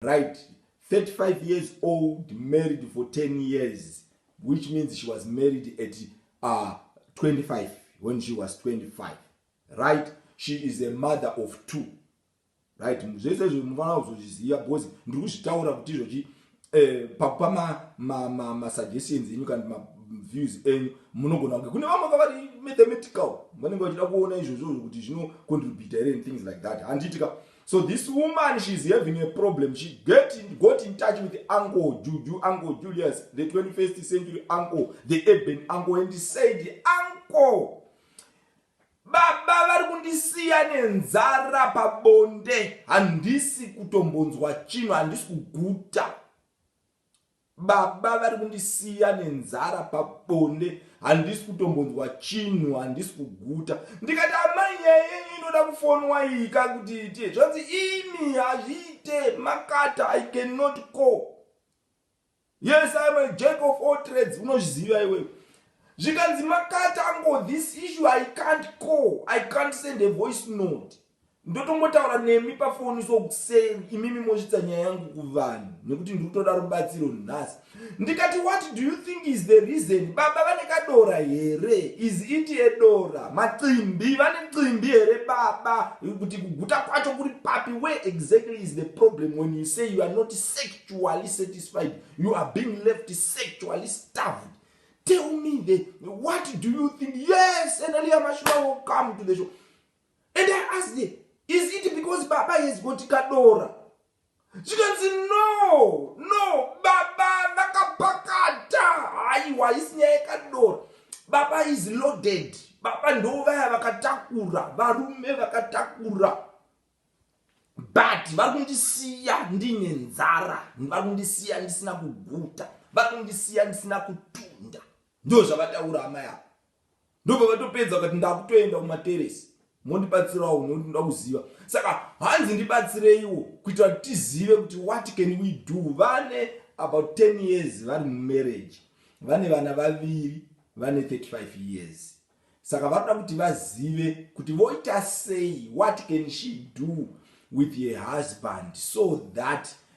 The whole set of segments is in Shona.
right 35 years old married for 10 years which means she was married at uh, 25 when she was 25 right she is a mother of two right zvese izvo mufanira kuzozviziva because ndiri kuzvitaura kuti izvozvi eh, pakupa masuggestions enyu kana maviews enyu munogona kunge kune vamwe kavari mathematical vanenge vachida kuona izvozvo kuti zvinocontributa here and things like that handiitika ah, So this woman she is having a problem she get in, got in touch with uncle Juju uncle Julius the 21st century uncle the urban uncle and said uncle baba vari kundisiya nenzara pabonde handisi kutombonzwa chino handisi kuguta Baba vari kundisiya nenzara pabonde handisi kutombonzwa chinhu handisi kuguta ndikati amai nyaya yenyu inoda kufonwa iyi ka kuti iite zvanzi imi hazviite makata i cannot call yes iam a jack of all trades unozviziva iwewe zvikanzi makata ango this issue i can't call i can't send a voice note ndotongotaura nemi pafoni so sei imimi mosvitsa nyaya yangu kuvanhu nekuti ndiri kutoda rubatsiro nhasi ndikati what do you think is the reason baba vane kadora here is it edora macimbi vane cimbi here baba kuti kuguta kwacho kuri papi where exactly is the problem when you say you are not sexually satisfied you are being left sexually starved tell me the what do you think yes analia mashua will come to the show And I asked them, is it because baba has got kadora? Zvikanzi no, no, baba vakapakata. Haiwa, isi nyaya yekadora. Baba is loaded. Baba ndo vaya vakatakura, varume vakatakura. But vari kundisiya ndine nzara, vari kundisiya ndisina kuguta, vari kundisiya ndisina kutunda. Ndozvavataura amai ava. ndobva vatopedza vakati ndakutoenda kumateresi mondibatsirawo nekuti ndoda kuziva saka hanzi ndibatsireiwo kuitira kuti tizive kuti what can we do vane about 10 years vari mumarriage vane vana vaviri vane 35 years saka vanoda kuti vazive kuti voita sei what can she do with her husband so that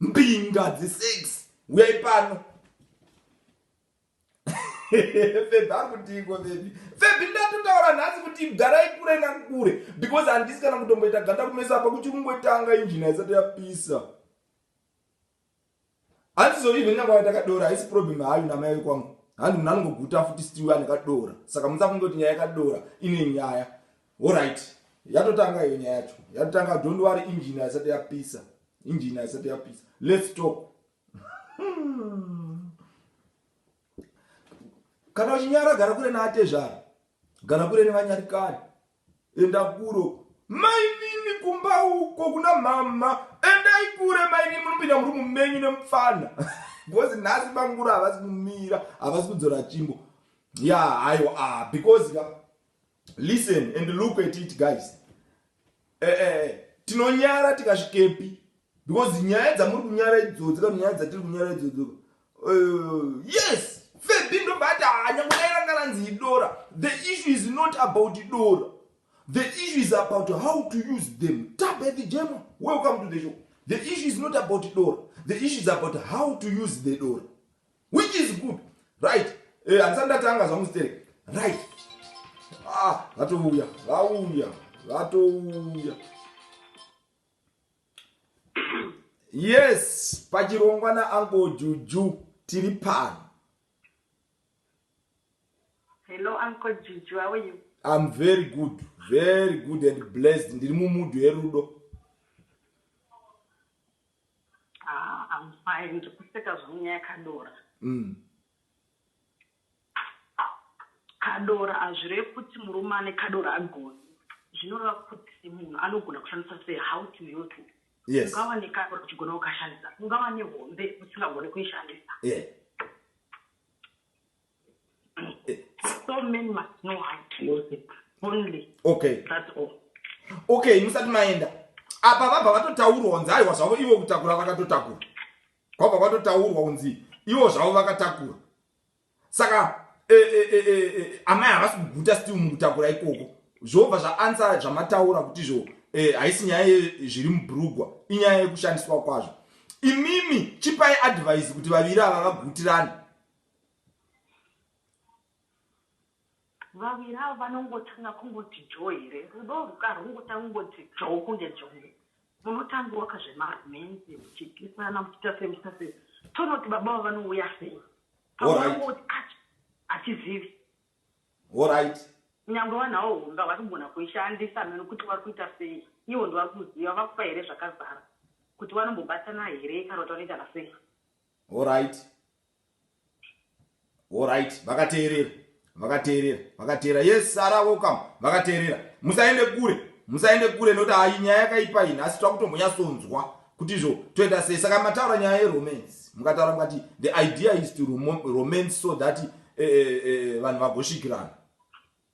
Mbinga dzi six huyai pano. Febhi akutiiko febhi. Febhi ndatotaura nhasi kuti garai kure nakure because handisi kana kutomboita ganda kumesa apa kuchiri kungotanga injini haisati yapisa. Handizovi even nyangwa yaita kadora haisi problem hayo namai vekwangu. Handi munhu anongoguta futi still ane kadora. Saka musafunge kuti nyaya yakadora ine nyaya. Horait yatotanga iyo nyaya yacho yatotanga don't worry engine haisati yapisa engine haisati yapisa let's talk kana uchinyara gara kure naatezvara gara kure nevanyarikani enda kuro mainini kumba uko kuna mama endai kure mainini munopinda muri mumenyu nemupfana because nhasi bangura havasi kumira havasi kudzora chimbo ya haiwa ah, because ka Listen and look at it guys. Eh eh tinonyara tikasvikepi because nyaya dzamuri kunyara idzodzi kana nyaya dzatiri kunyara idzodzi. Uh, yes, Febby ndobata hanya kudaira karanzi idora. The issue is not about idora. The issue is about how to use them. Tabe the Gemma, welcome to the show. The issue is not about idora. The issue is about how to use the door. which is good right eh, handisati ndatanga zvangu sterek right ah, vatouya vauya vatouya yes pachirongwa naanko juju tiri pano hello uncle juju how are you i'm very good very good and blessed ndiri mumudu yerudo Ah, I'm fine. Ndiri kuseka zvangu nyaya kadora. Mm. Kadora hazvireve kuti murume ane kadora agoni. Zvinoreva kuti munhu anogona kushandisa sei how to use it. Yes. Ungava nekadora uchigona kukashandisa. Ungava nehombe usingagoni kuishandisa. Yeah. so men must know how to use it only okay that's all okay musati maenda apa vabva vatotaurwa kunzi aiwa zvavo ivo kutakura vakatotakura kwabva kwatotaurwa kunzi ivo zvavo vakatakura saka e, e, e, amai havasi kuguta still mukutakura ikoko zvobva zvaansa zvamataura kuti zvo haisi nyaya yezviri mubrugwa inyaya yekushandiswa kwazvo imimi chipai advise kuti vaviri ava vagutirane Vaviri ava vanongotanga kungoti joo here. Rudo urwu ka rwungotanga kungoti joo kunge jongwe. Munotanga waka zvema romance muchikisana muchiita sei muchiita sei tonoti baba ava vanouya sei. Pamwe vangoti kacho hatizivi. Horait. Nyangwe vanhu avo hombe havasi kugona kuishandisa meno kuti vari kuita sei. Ivo ndivari kuziva vakupa here zvakazara kuti vanombobatana here kana kuti vanoita nasei. Horait. Alright, vakateerera. Vakateerera. Vakateerera. Yes, Sara welcome. Vakateerera. Musaende kure. Musaende kure noti hayi nyaya yakaipa ini asi takutombonyasonzwa kuti izvo toita sei saka mataura nyaya yeromance mukataura mukati the idea is to romance so that eh, eh, eh, vanhu vagosvikirana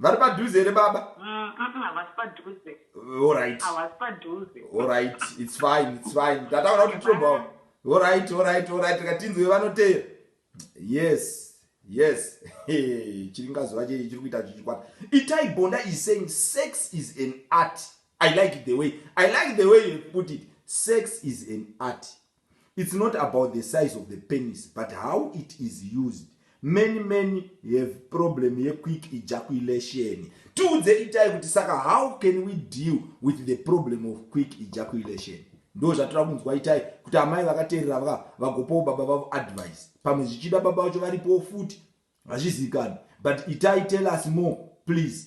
Vari padhuze here baba? Mm, mm, mm, havasi padhuze. Uh, all right. Havasi padhuze. All right. It's fine. It's fine. Tataura kuti tinoba. All right. All right. All right. Tikatinzwe vanoteya. Yes. Yes. Chiringa zuva chiri chiri kuita chichikwata. Itai Bonda is saying sex is an art. I like the way. I like the way you put it. Sex is an art. It's not about the size of the penis but how it is used. Many men have problem ye quick ejaculation. Tiudze itai kuti saka how can we deal with the problem of quick ejaculation? ndo zvatira kunzwa itai kuti amai vakateerera vaka vagopawo baba vavo advice pamwe zvichida baba vacho varipowo futi hazvizivikanwi but itai tell us more please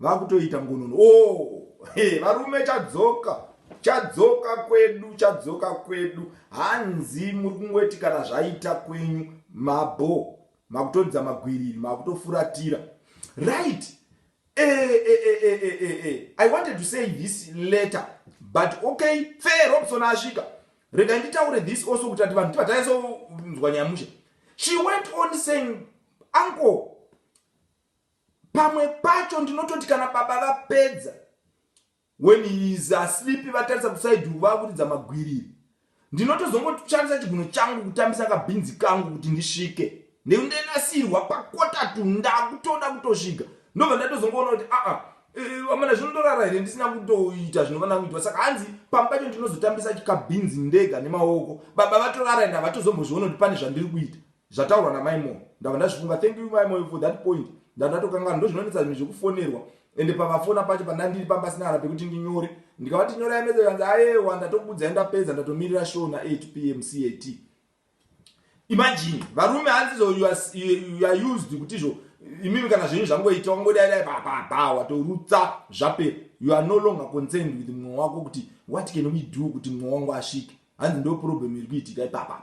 vakutoita ngonono oh hey, varume chadzoka chadzoka kwedu chadzoka kwedu hanzi muri kungoti kana zvaita kwenyu mabho makutodza magwiriri makutofuratira right e, e, e, e, e, e, e. i wanted to say this letter but okay fair robson asvika rega nditaure this also kuti ati vanhu tivataiso nzwa nyamusha she went on saying uncle Pamwe pacho ndinototi kana baba vapedza when he is asleep vatarisa kusaiduru vakuridza magwiriri ndinotozongoshandisa chiguno changu kutambisa kabhinzi kangu kuti ndisvike ndekundenasirwa pakotatu ndakutoda kutosvika ndobva ndatozongoona kuti aa ah, ah, amana zvino ndorara here ndisina kutoita zvinofana kuitwa saka hanzi pamwe pacho ndinozotambisa kabhinzi ndega nemaoko baba vatorara ende havatozombozviona kuti pane zvandiri kuita Zvataurwa na mai Moyo ndabva ndazvifunga thank you mai Moyo for that point ndandatokanganwa ndozvinonetsa zvimwe zvekufonerwa ende pavafona pacho pandandiri panga pasina kana pekuti ndinyore ndikavati nyorai message vanzi ayewa ndatokuudzai ndapedza ndatomirira show na 8 pm cat imagine varume hanzi so you are, you are used kuti izvo imimi kana zvenyu zvangoita wangodai dai bababa watorutsa zvapera you are no longer concerned with mumwe wako kuti what can we do kuti mumwe wangu asvike hanzi ndo problem iri kuitika ipapapa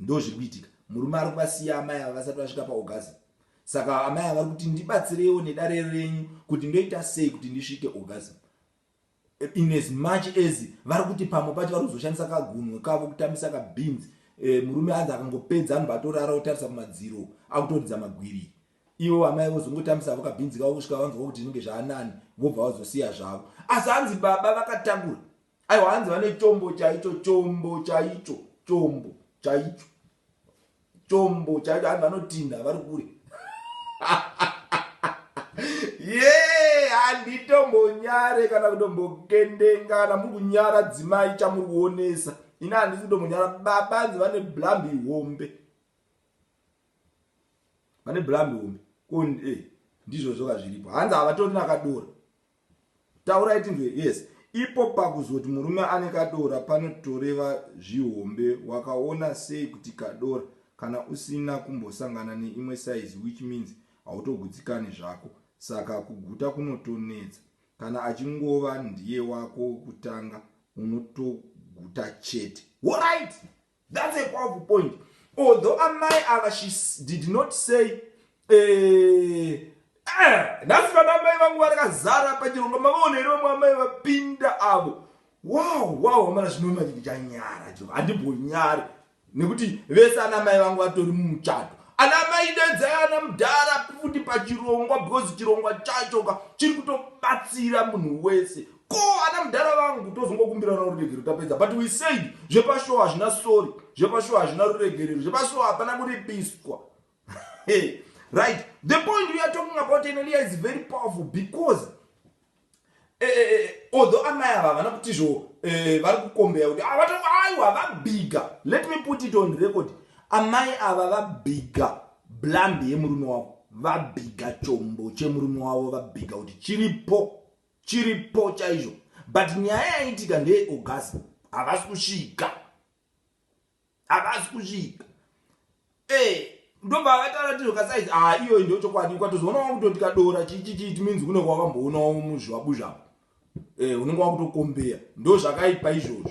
Ndozviri kuitika. Murume ari kuvasiya amai ava vasati vasvika paorgasm. Saka amai ava vari kuti ndibatsireiwo nedare renyu kuti ndoita sei kuti ndisvike orgasm. In as much as vari kuti pamwe pacho vari kuzoshandisa kagunwe kavo kutambisa kabeans. Eh, murume anzi akangopedza anobva atorara otarisa kumadziro akutoridza magwiri. Ivo amai vozongotambisa avo kabeans kavo kusvika vanzwa kuti zvinenge zvaanani vobva vazosiya zvavo. Asi anzi baba vakatambura. aiwa hanzi vane chombo chaicho chombo chaicho chombo chaicho chombo chaicho hanzi vanotinda vari kure ye handitombonyare kana kutombokendengana muri kunyara dzimai chamuri kuonesa ini handisi kutombonyara baba hanzi vane blambi hombe vane blambi hombe ko eh, ndizvozvoka zviripo hanzi havatori nakadora Taurai tinzwe yes. Ipo pakuzoti murume ane kadora panotoreva zvihombe wakaona sei kuti kadora kana usina kumbosangana neimwe size which means hautogutsikani zvako saka kuguta kunotonetsa kana achingova ndiye wako wekutanga unotoguta chete. Horaiti! That's a powerful point. Although Amai Ava, she did not say, eh, eh, that's what Amai Vangu Varaka Zara Pajirunga, Mavone, Roma, Amai Vapinda Avo. Wow, wow, Amana Shinoma Janyara, Jiro, Adibu Nyari. Nikuti, Vesa Amai Vangu Vatori Muchato. Ana Amai Deza, Ana Mdara, Puti Pajirunga, because Jirunga Chachoka, Chirikuto Patsira Munuwese. ko ana mudhara vangu tozongokumbirana ruregerero tapedza but we said zvepashow hazvina sori zvepashow hazvina ruregerero zvepashow hapana kuripiswa right the point we are talking about enelia is very powerful because eh, eh, eh, although amai ava havana kuti zvo eh, vari kukombeya kuti avata ah, aiwa vabhiga let me put it on record amai ava vabhiga blambi yemurume wavo vabhiga chombo chemurume wavo vabhiga kuti chiripo Chiripo chaizvo but nyaya yaitika ndeye orgasm havasi kusvika havasi kusvika eh ndobva vataura tizvo kasaizi ha ah, iyoyi ndo chokwadi ukatozoonawo kutoti kadora chichichiti minzi kunenge wakamboonawo muzvibabuzvako eh unenge wakutokombeya ndo zvakaipa izvozvo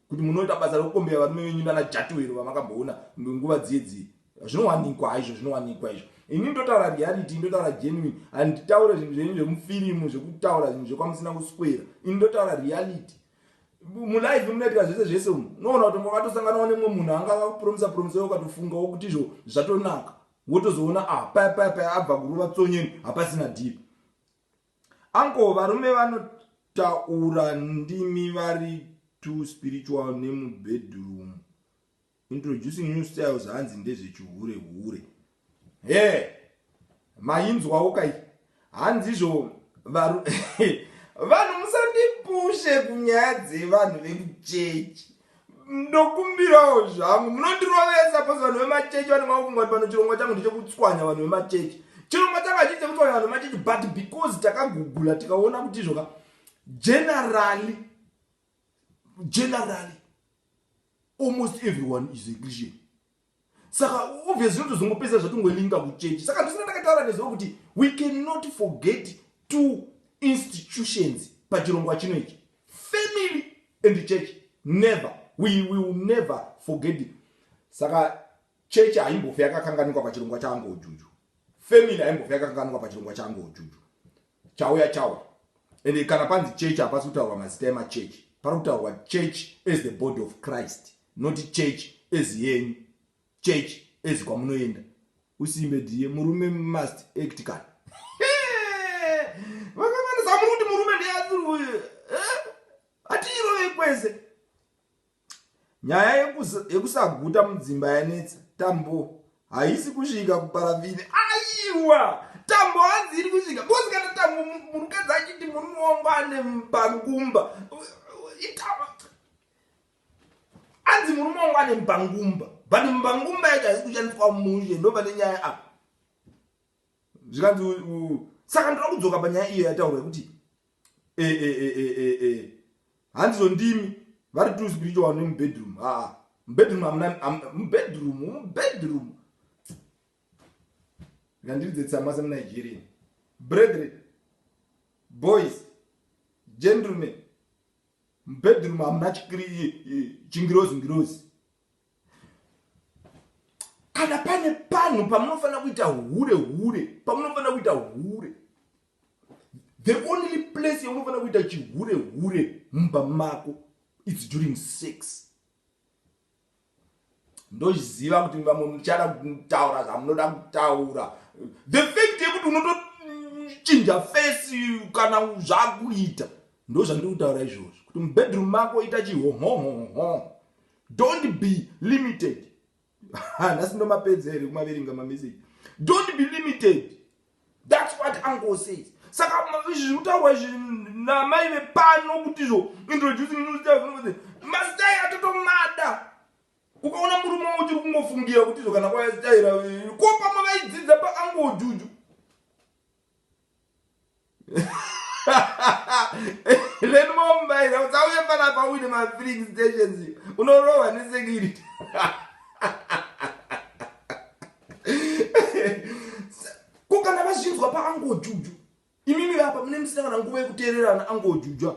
Kuti munoita basa rekukombeya varume venyu nana jatuwero vamakamboona nguva dziye dziye zvinowanikwa haizvo zvinowanikwa izvo ini ndotaura reality ndotaura genuine handitaure zvinhu zvenyu zvemufirimu zvekutaura zvinhu zvekwamusina kuswera ini ndotaura reality mulife munoitika zvese zvese umu unoona kuti makatosanganawo nemwe munhu anga akakupromisa promisa yo ukatofunga wokuti izvo zvatonaka wotozoona ah paya paya paya abva kurova tsonyeni hapasina deep Uncle varume vanotaura ndimi vari too spiritual nemubedroom introducing new styles hanzi ndezvechihure hure he mainzwawo kai hanzizvo varu vanhu musandipushe kunyaya dzevanhu vekuchechi ndokumbirawo zvangu munondirovesa bcause vanhu vemachechi vanenge vakufunga kuti pano chirongwa changu ndechekutswanya vanhu vemachechi chirongwa changu hachii chekutswanya vanhu vemachechi but because takagugula tikaona kuti izvoka generally generally almost everyone is a christian saka obviously totozongopedza zvatongolinga kuchechi saka ndosaka ndakataura nezuva kuti we cannot forget two institutions pachirongwa chino ichi family and church never we will never forget saka chechi haimbofe yakakanganikwa pachirongwa changu ujuju family haimbofe yakakanganikwa pachirongwa changu ujuju chauya chauya and kana panzi church hapasi kutaurwa mazita emachurch pari kutaurwa church as the body of christ not church as yenyu church as kwamunoenda usimbe diye murume must act kan vakavanisa muruti murume ndeyaziruye eh? atiirovei kwese nyaya yekusaguta mudzimba yanetsa tambo haisi kusvika kuparavhini aiwa tambo hanzi iri kusvika bcoz kana tambo murukadzi achiti murume wangu ane mbangumba anzi murume wangu ane mbangumba but mbangumba yacho haisi kushandiswa mushe ndopane nyaya apa zvikanzi saka ndoda kudzoka panyaya iyo yataurwa yekuti eh, eh, eh, handizo ndimi vari two spiritual ne mubedroom haa mubedroom amuna mubedroom mubedroom ngandiridze tsama semunigerian brethren boys gentlemen mubedroom amuna chingirozi ngirozi kana pane panhu pamunofanira kuita hure hure pamunofanira kuita hure the only place yaunofanira kuita chihure hure mumba mako its during sex ndoziva kuti vamwe muchada kutaura zvamunoda kutaura the fact yekuti unotochinja fesi kana zvakuita ndo zvandiri kutaura izvozvo kuti mubedroom mako ita chihomhohomho don't be limited nhasi ndomapedza here kumaverenga mameseji don't be limited thats what uncle says saka izvi zviri kutaurwa izvi namai vepano kuti izvo introducing new style mastai atotomada ukaona murume wo uchiri kungofungira kuti izvo kana kwayasitaira ko pamwe vaidzidza paangojuju lenimomubaira usauye panapa uine mafilling stations unorohwa nesecurity ko kana vazvinzwa paangojuju imimi vapa mune musina kana nguva yekuteererana angojujwa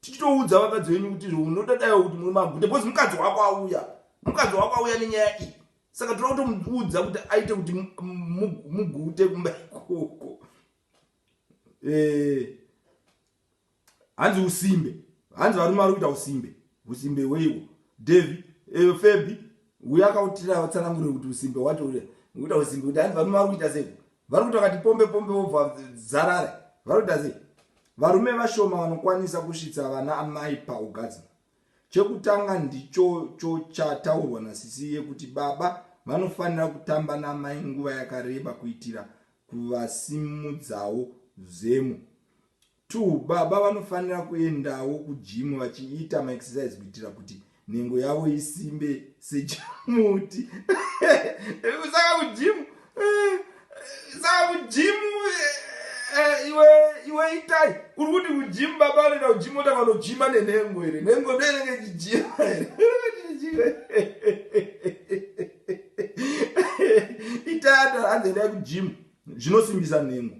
tichitoudza vakadzi venyu kuti izvo unoda daiwa kuti muri maguta because mukadzi wako auya mukadzi wako auya nenyaya iyi saka toda kutomuudza kuti aite kuti mugute kumba ikoko eh, hanzi usimbe hanzi varume vari kuita usimbe usimbe hweiwo davi eh, febi uye akautira vatsanangure kuti usimbe wacho ure ngokuita usimbe kuti hanzi varume vari kuita sei vari kuti vakati pombe pombe vobva dzarare vari kuita sei varume vashoma vanokwanisa kusvitsa vana amai paugadzima chekutanga ndichocho chataurwa nasisi yekuti baba vanofanira kutamba namai nguva yakareba kuitira kuvasimudzawo zemo Two, baba vanofanira kuendawo kujimu vachiita maexercise kuitira kuti nhengo yavo isimbe sechimuti saka kujimu eh, saka kujimu eh, eh, iwe iwe itai uri kuti kujimu baba vanoenda kujimu ota vanojima nenhengo here nhengo ndoinenge ichijima here itai ata hanzi endai kujimu zvinosimbisa nhengo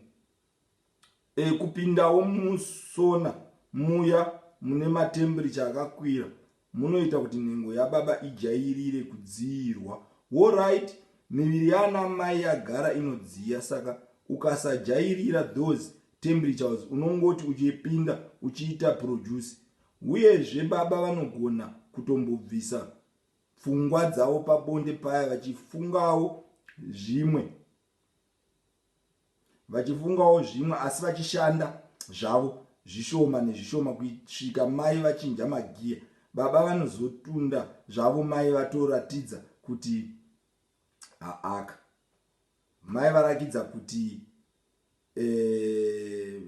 E, kupindawo musona muya mune matembiricha akakwira munoita kuti nhengo yababa ijairire kudziirwa. Horyt, miviri yaanamai yagara inodziya saka ukasajairira those temperatures unongoti uchipinda uchiita produce. Uyezve baba vanogona kutombobvisa pfungwa dzavo pabonde paya vachifungawo zvimwe. vachifungawo zvimwe asi vachishanda zvavo zvishoma nezvishoma kuisvika mai vachinja magiya baba vanozotunda zvavo mai vatoratidza kuti haaka mai varakidza kuti eh,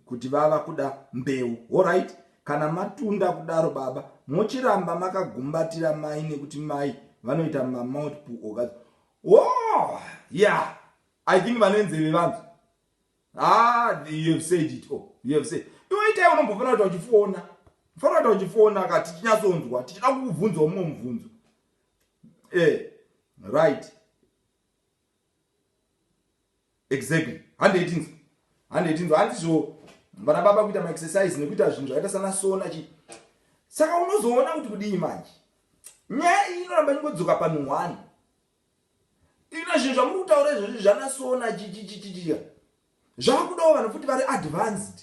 kuti vava kuda mbeu horit kana matunda kudaro baba mochiramba makagumbatira mai nekuti mai vanoita mamouth puoka Whoa, yeah, I think vanenzeve vanzi. Ah, you have said it all. Oh, you have said. Iwe itai unombofana kuti uchifona. Fana kuti uchifona ka tichinyatsonzwa, tichida kukubvunza umwe mubvunzo. Eh, right. exactly handei tinzwa handei tinzwa handizvo vana baba kuita maexercise nekuita zvinhu zvakaita sana sona chii saka unozoona kuti kudii manje nyaya iyi inoramba ingodzoka panhu one ina zvinhu zvamuri kutaura izvozvi zvanasona chichichichichiya zvakudawo vanhu futi vari advanced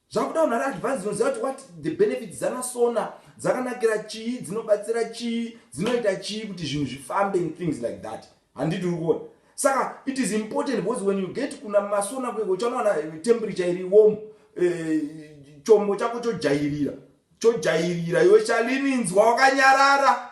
zvakuda unhu ari advance unoziva kuti what the benefit dzanasona dzakanakira chii dzinobatsira chii dzinoita chii kuti zvinhu zvifambe in things like that handiti uri kuona saka it is important because when you get kuna masona kueko uchanowana temperature iri warm eh, chombo chako chojairira chojairira iwe chalininzwa wakanyarara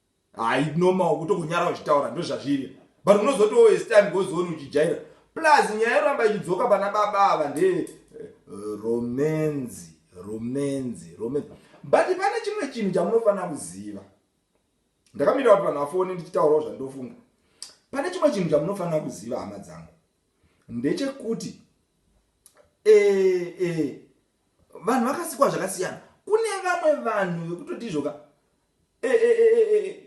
Hayi normal kutongonyara uchitaura ndozvazviri but unozoti wo as time goes on uchijaira plus nyaya yoramba ichidzoka pana baba ava nde eh, romenzi romenzi romenzi but pane chimwe chinhu chamunofanira kuziva ndakamira kuti vanhu vafone ndichitaurawo zvandofunga pane chimwe chinhu chamunofanira kuziva hama dzangu ndechekuti e, e, vanhu vakasikwa zvakasiyana kune vamwe vanhu vekutoti izvoka eh, eh, eh, eh, eh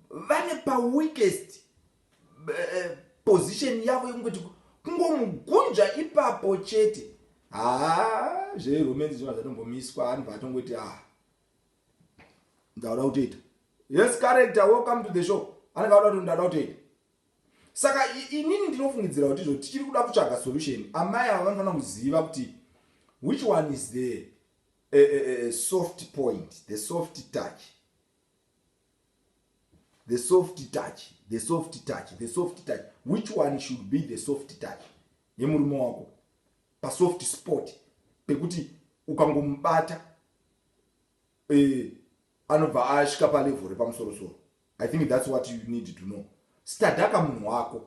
vane paweakest eh, position yavo yekungoti kungomugunja ipapo chete haa zveromance zvona zvatombomiswa anhu vatongoti a ndauda kutoita yes character welcome to the show anenge auda kuti ndauda kutoita saka inini ndinofungidzira kuti izvo tichiri kuda kutsvaga solution amai ava vanofanira kuziva kuti which one is there A, a, a soft point, the soft touch. The soft touch, the soft touch, the soft touch. Which one should be the soft touch? Yemurume wako. Pa soft spot. Pekuti ukangomubata eh, anobva asvika palevel repamusoro soro. I think that's what you need to know. Stadaka munhu wako.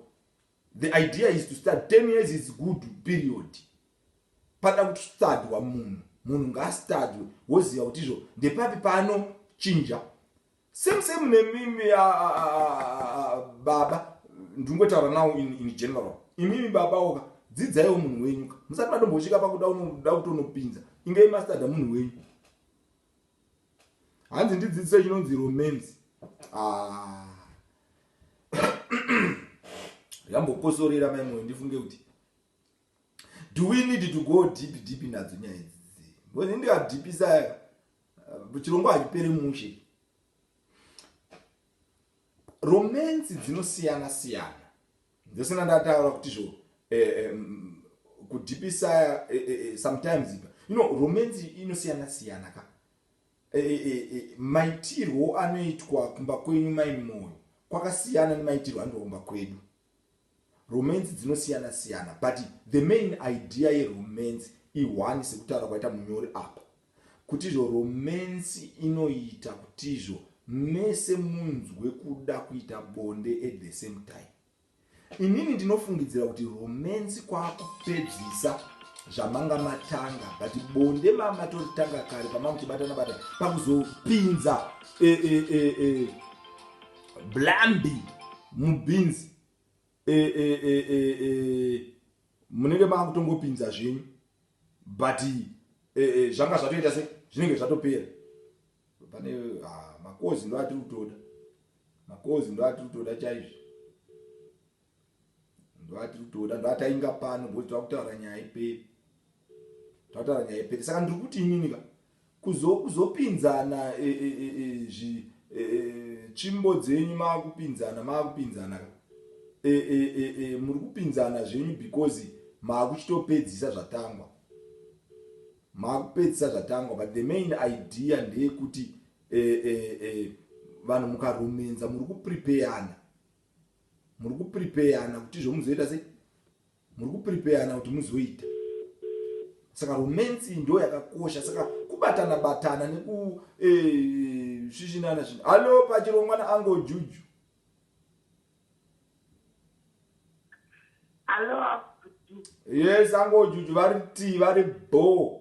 The idea is to start 10 years is good period. Pada kuti stadwa munhu, munhu ngaastadwe woziva kuti izvo ndepapi pano chinja. Same same nemimi uh, uh, uh, baba ndingotaura now in, in general. Imimi baba oka dzidzaiwo munhu wenyu ka. Musati madombosvika pakuda unoda kutonopinza. Inge mastadha munhu wenyu. hanzi ndidzidzise chinonzi romance ah. yambokosorera mai moyo ndifunge kuti do we need to go deep deep nadzo nyaya idzi bcause ndikadhipisa uh, chirongw hachipere mushe romance dzinosiyana siyana Ndose ndandataura kuti zvo eh, eh, mm, kudhipisa eh, eh, eh, sometimes ipa you know romance inosiyana siyana ka eh, eh, eh, eh, maitirwo anoitwa kumba kwenyu mai moyo kwakasiyana nemaitirwo anoitwa kumba kwedu romance dzinosiyana siyana but the main idea yeromance ihwani sekutaura kwaita munyori apa kutizvo romance inoita kutizvo mese munzwe kuda kuita bonde at the same time inini ndinofungidzira kuti romance kwakupedzisa zvamanga matanga but bonde mamatoritanga kare pamamuchibatana bata pakuzopinza e, e, e, e, blambi mubhinzi e, e, e, e, e, munenge makutongopinza zvenyu but e, e, zvanga zvatoita se zvinenge zvatopera pane ah, makozi ndo atiri kutoda makozi ndo atiri kutoda chaizvo ndo atiri kutoda ndo atainga pano bcause takutaura nyaya iperi takutaura nyaya iperi saka ndiri kuti ininika Kuzo kuzopinzana eh, eh, eh, eh, zvi eh, eh, tsvimbo dzenyu maakupinzana maakupinzana ka eh, eh, eh, eh, muri kupinzana zvenyu because maakuchitopedzisa zvatangwa maakupedzisa zvatangwa but the main idea ndeyekuti eh, eh, eh, vanhu mukaromenza muri kuprepeyana muri kuprepeyana kuti zvomuzoita sei muri kuprepeyana kuti muzoita saka romance iyi ndo yakakosha saka kubatana batana nekusvishinana eh, zvinhu hallo pachirongwa naango juju yes ango juju vari ti vari bho